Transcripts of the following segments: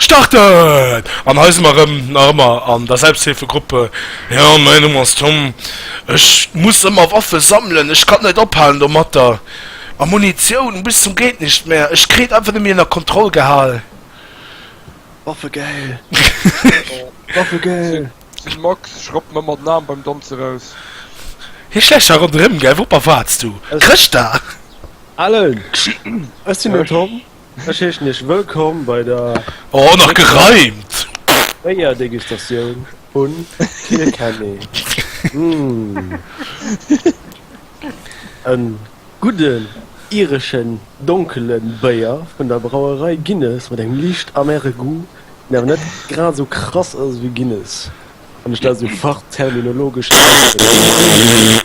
Starten! An hei si mer erëm, nach ëmmer an der Selbsthilfegruppe. Jo, mäin Numm ass Tom. Ech muss ëmmer Waffe sammelen, ech kann net ophalen domatter. A Munitioun bis zum Geet-Nicht-Mehr, ech kritt et einfach net méi ënner Kontroll gehal. Waffe geil! Waffe geil! Den Max schrappt mer ëmmer den Aarm beim Danz eraus. Hie schläicht sech ronderëm, gell? Woupper waats du? Krëscht da! Allen, ech sinn den Tom. Ech heeschen Iech wëllkomm bei der Oh, nach gereimt! Béierdegustatioun vun Kilkenny. En gudden ireschen donkelen Béier vun der Brauerei Guinness mat engem liicht amere Goût, deen awer net grad esou krass ass ewéi Guinness, wann ech dat esou fachterminologesch ausdrécken dierf.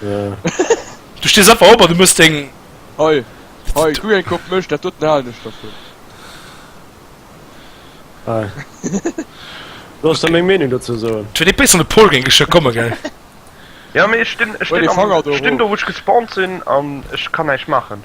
Du stees einfach op an du muss deng. Hei, hei, guck eng Kopp Mësch, dat doten halen ech dervun. Hei. Sollst du meng Meenung dozou soen? Et huet ee béisser de Paul géing geschwë komme, gell? Ja, mee ech stinn, ech Huel dee stinn, Fanger do stinn do, erof. wou ech gespawnt sinn an ech kann näischt maachen.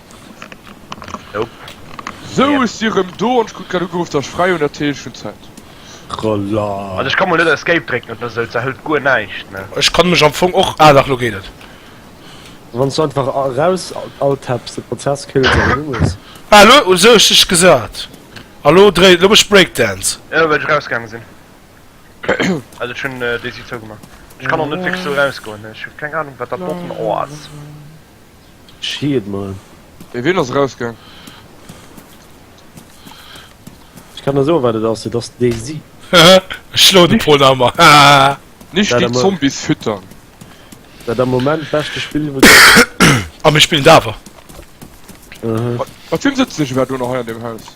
Sou ech si rem do an ech krut grad ugeruff dass ech fräi hun, dat heescht ech hun Zäit. An ech kann mol net escape drécken oder sou, dat hëlt guer näischt ne. Ech kann mech am Fong och, ah dach lo geet et. Wanns du einfach eraus alt tapps de Prozess kills an du muss. Ah lo hu ech dech gesat a lo dréi, lo mech breakdance. Jo well ech eraus gaange sin, also ech hun déi Site zougemaach, ech kann och net wierklech sou eraus goen, ech hu keng Ahnung wat dat doten ass. Ech hie et mol. Mee wien ass erausgaang? Ech kann der soen wat et ass, et ass den Daisy. Hehe ech schloen e puer Namer hahaha. Nicht die Zombies füttern. Dat am Moment beschte Spill iwwert Zombies. A mir spillen et awer. Mat wiem sëtzen ech iwwerhaapt elo nach hei an deem Haus?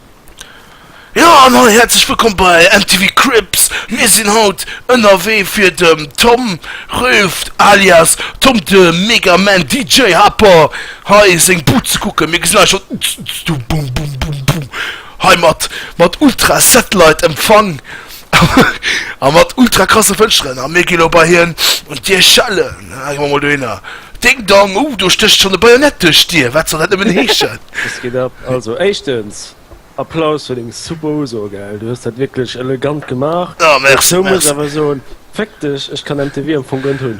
Jo an hei häerzlech wëllkomm bei MTV Cribs. Mir sinn haut ënnerwee fir dem Tom Rüft alias Tom de Mega Man DJ Happer hei seng Bud ze kucken. Mir gesinn hei schonn Zzztz du bum bum bum bum hei mat mat Ultra Satellite Empfang. a mat ultra krasse Fënsteren, a mir gi lo bei hien un d'Dier schellen. Ech mol dohinner, Ding Dong, uh, do stécht schonn e Bajonett duerch d'Dier, wat soll dat nëmmen heeschen? Wëss geet ab. Also éischtens, Applaus fir deng super Uso, gell, du hues dat wierklech elegant gemaach. Ah, merci, merci. Dozou muss ech awer soen, Féck dech, ech kann MTV am Fong gënnt hunn.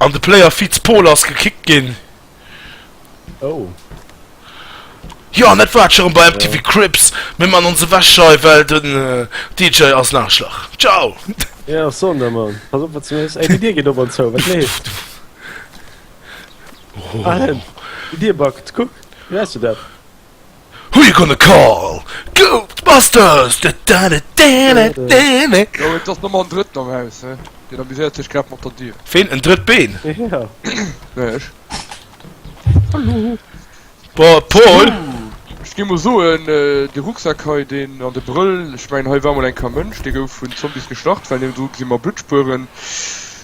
An de Player Fitz Pol ass gekickt ginn. Oh. Jo an dat war et scho rëm bei MTV Cribs. Mir man ons ewech hei well den DJ ass en Aarschlach. Ciao! Jo ech soen der Mann, pass op wat s du méchs. Ey déi Dier geet op an zou, wat leeft? Ahem, déi Dier backt, kuck, gesäis du dat? Who you gonna call? Ghostbusters! Da da da da da da! Jo, et ass nëmmer en Drëtten am Haus, he? Deen amuséiert sech grad mat der Dier. Ween? En drëtt Been? Ja. Nee, ech. Hallo. Bon, Paul! Ech géing mol soen, dee Rucksack hei, deen, an de Brëll, ech mengen, hei war mol eng Ka Mënsch, dee gouf vun Zombies geschlacht, well niewendru gesi mer Bluttspueren.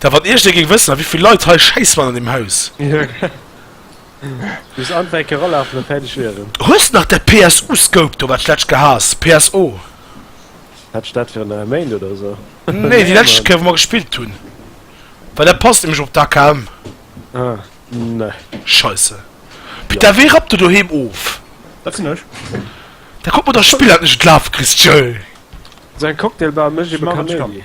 Da wann iergdee géing wëssen a wéivill Leit hei schäiss waren an deem Haus. Muss anfänke eralafen a fäerdeg wieren. Hues nach däi PSU Scope do wat d'lescht gehaas? PSO? Hat ech dat virun enger Méint oder esou? Nee déi lescht Kéier wou mer gespillt hunn. Well dat passt nämlech op d'AKM. Ah ne. Scheisse. Pita wéi rappt de doheem of? Dat sinn ech. Da kuck mer dach Spiller net lafe Christchell. Esou eng Cocktailbar mécht ebe Kaméidi.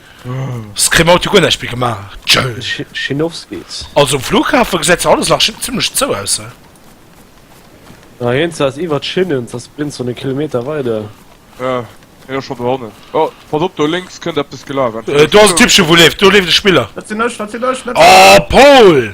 Scream Auto guer näischt méi gemaach. Schinowskis. Also um Flughafen gesäit zwar alles nach zimlech zou aus he. Na hien ze ass iwwert Schinnen ze ass blinns wann e Kilometer weider. Ja hien ass schon do hannen. Oh pass op do lénks kënnt eppes gelafen. Do ass en Typchen wou leeft do leeft e Spiller. Dat sinn ech dat sinn ech net ech. Oh Paul!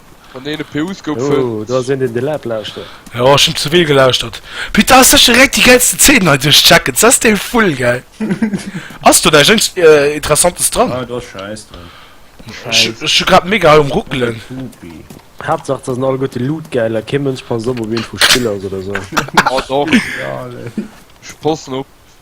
Von deene PUs gouf fënnt. Oh, do ass een deen de Lab lauschtert. Jo, ech hunn zevill gelauschtert. Putain, ass sech direkt déi geilsten Zeenen hei duerchchecken, s ass dee full gäil. Ass do näischt Interessantes dran? Ah, do ass Schäiss dran. Schäiss. Ech hu grad mega hei um ruckelen. Pupi. Haaptsaach, et ass en allgote Loot gäil a kee Mënsch passt op op eent vu Spillers oder sou. Oh, doch. Ech passen op.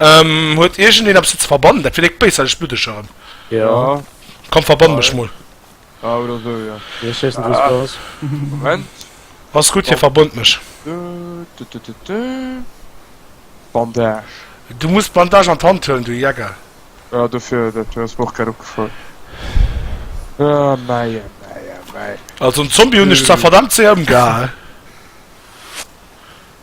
Ähm, huet irgendeen ab ze verbannen, dat vielleicht besser, ich blutech erem. Ja. Komm verbann mech mol. Ah, oder so, ja. Ja, ich weiß nicht, was du hast. Moment. Was gut, hier verbund mech. Bandage. Du musst Bandage an d'Hand höllen, du Jäger. Ja, dafür, dat du hast mir auch grad opgefallen. Ah, mei, mei, mei. Also, ein Zombie hun ich zwar verdammt sehr umgehauen.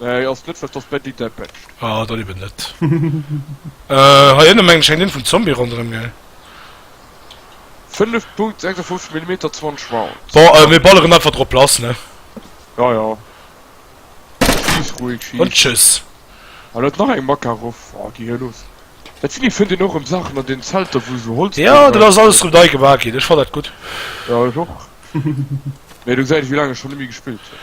Hei ass net fest dass d'Mandy däi Badge. Ah dann eben net. Hei ënne mengen ech hänkt een vum Zombie ronderëm gell? 5 Punkt 56 Millimeter 20 Rounds. Bon mir balleren einfach drop lass ne. Ja ja schiiss ruhig schiiss. An tschüss. Hei läit nach eng Makarov. Oh gi hir los. Dat Vinny fënnt een och rëm Saachen an den Zelter wou esou Holz dru war. Jo dat ass alles rëm nei gemaach ginn. Ech fannen dat gutt. Jo ech och. Mee du gesäit ech wéi laang ech schonn net méi gespillt hunn.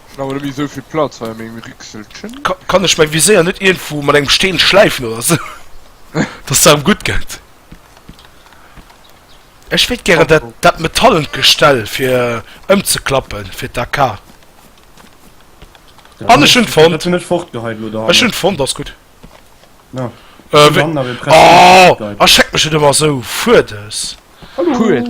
Ech hun awer net méi esou vill Platz hei an mengem Rixelchen. Kann ech mein Viséier net ierndwou mat engem Steen schläifen oder sou, dass et erem gudd gett? Ech wéilt gären dat dat metallent Gestell fir emzeklappen fir d'AK. An ech hun et fonnt! Ech hun et fonnt, ass gudd. Ohh a schreckt mech et emmer esou fuerdes. Cool!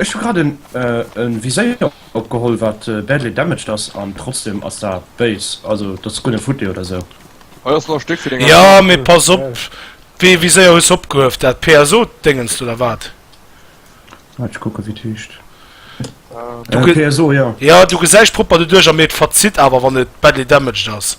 Ech hu grad e Viséier opgeholl wat badly damaged ass an trotzdem ass dat béis, also dat ass guer net futti oder sou. Hei ass nach e Stéck fir deng Aarbecht. Jo mee pass op, wéi ee Viséier hues de opgehuef, dat PSO Déngens oder wat? Waart ech kucken wéi et heescht, PSO jo. Jo du gesäis propper doduerch a mee et verzitt awer wann et badly damaged ass.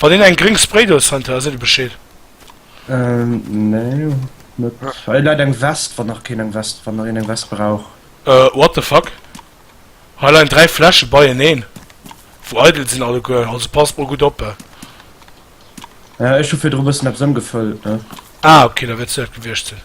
Wann een eng gréng Spraydose fënnt, da seet e Bescheed. Ähm, nee, net. Hei ah. läit eng West, wann nach keen eng West, wann nach een eng West brauch. Äh, what the fuck? Hei leien dräi Fläsche beieneen, wou eidel sinn alleguer, also passt mol gutt op. Ja, ech hu virdru bëssen eppes ëmgefëllt, ne? Ah, okay, da wäert se dat gewiescht sinn.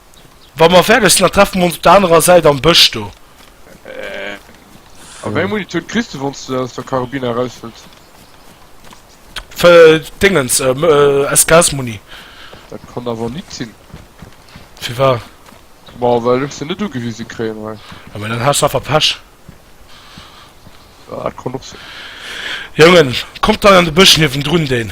Wa mer fäerdeg sinn, da treffe mer ons op der anerer Säit am Bësch do. A wéi eng Munitioun kriss de, wann s de aus der Karabinn eraushëls? Dingens, SKS-Muni. Dat kann awer nit sinn. Firwat? Ma well ech se net ugewise kréien hei. Jo, mä dann has de einfach Pech. Dat kann och sinn. Jongen, kommt hei an de Bësch niewendrun, deen.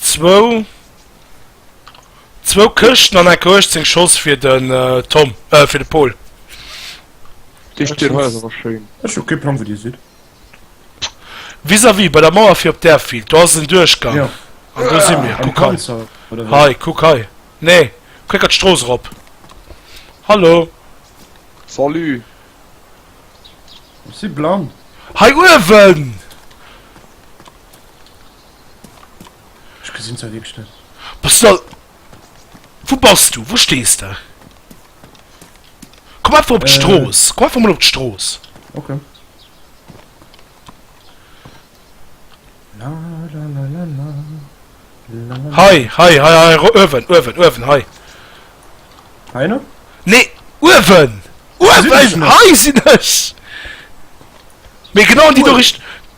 zwou zwou Këschten an enke 18 Schoss fir den Tom äh fir de Paul. Déi Stir hei ass awer schéin. Ech hu kee Plang wou dir sidd. Vis-à-vis bei der Mauer fir op d'Airfield, do ass en Duerchgang an do si mir. Am Kuck hei, Panzer oder wéi? hei, kuck hei, nee, kréckert d'Strooss erop. Hallo, Salut! Ech si blann. hei uewen! Ech gesinn se wierklech net. Bass de. Wou bass du? Wou stees de? Komm einfach op d'Strooss. Komm einfach mol op d'Strooss. Ok. Hei, hei, hei, hei, uewen, uewen, uewen, hei. Heianer? Nee, uewen! Uewen! Hei sinn ech! Mee genau an déi do Richt.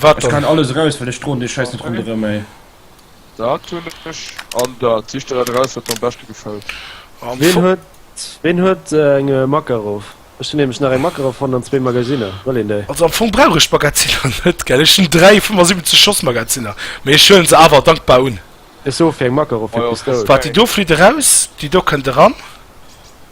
Wat dann? Kann alles raus well ech droen dee Scheiss net ronderem ey. Dat hun ech an dat sich der raus wat am beschte gefällt. Ween huet ween huet eng Makarov? Ech hun nämlech nach eng Makarov fonnt an zwee Magasinner. Wëll een déi? Also am Fong brauch ech Magazinner net gell, ech hun 3 75 Schoss Magazinner, mee ech huelen se awer dankbar un. Ech soe fir eng Makarov fir d'Pistoul. Waart déi do flitt eraus, déi do kënnt eran.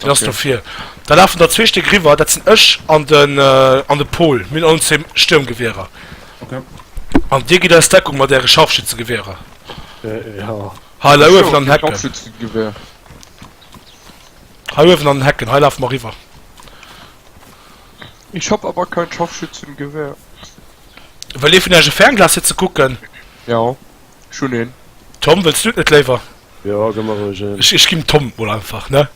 Deen ass do vir. Da lafen der zwee Stéck eriwwer, dat sinn ech an den, an de Pol. Mir hunn all zwee Stiermgewierer. An Dir gitt eis Deckung mat Äre Scharfschützegewierer. Hei, lei uewen an den Hecken. Hei uewen an den Hecken, hei lafe mer eriwwer. Ech hab awer keng Scharfschützengewehr. Wëll ee vun Äech e Fernglas fir ze kucken? Jo, ech hunn een. Tom, wëlls Du et net léiwer? Jo gem mer roueg een. Ech ginn Tom mol einfach ne.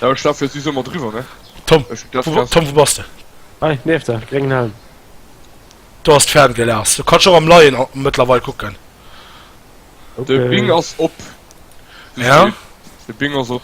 Jo ech lafe si summer driwwer ne. Tom Tom wou bass de. Hei nieft der gréngen Helm. Do ass d'Fernglas, du kanns och am Leien a mëttlerweil kucken. De Bing ass op. Ja de Bing ass op.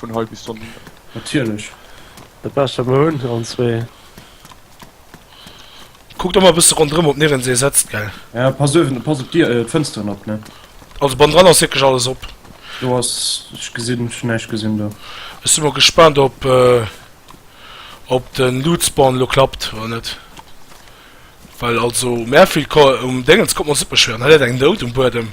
vun hei bis dann hin. Natierlech. Dat bescht wat mer hunn, allen zwee. Kuckt ëmmer e bësse ronderëm op nirgensee setzt, gell? Ja, pass uewen, pass op d'Dier, d'Fënsteren op, ne? Also bannendran ass wierklech alles op. Do ass, ech gesinn, ech hunn näischt gesinn do. Ech si mol gespaant op op de Lootspawn elo klappt oder net, well also um Airfield ko um Déngens kommt mer super schwéier un. Hei läit eng Nout um Buedem.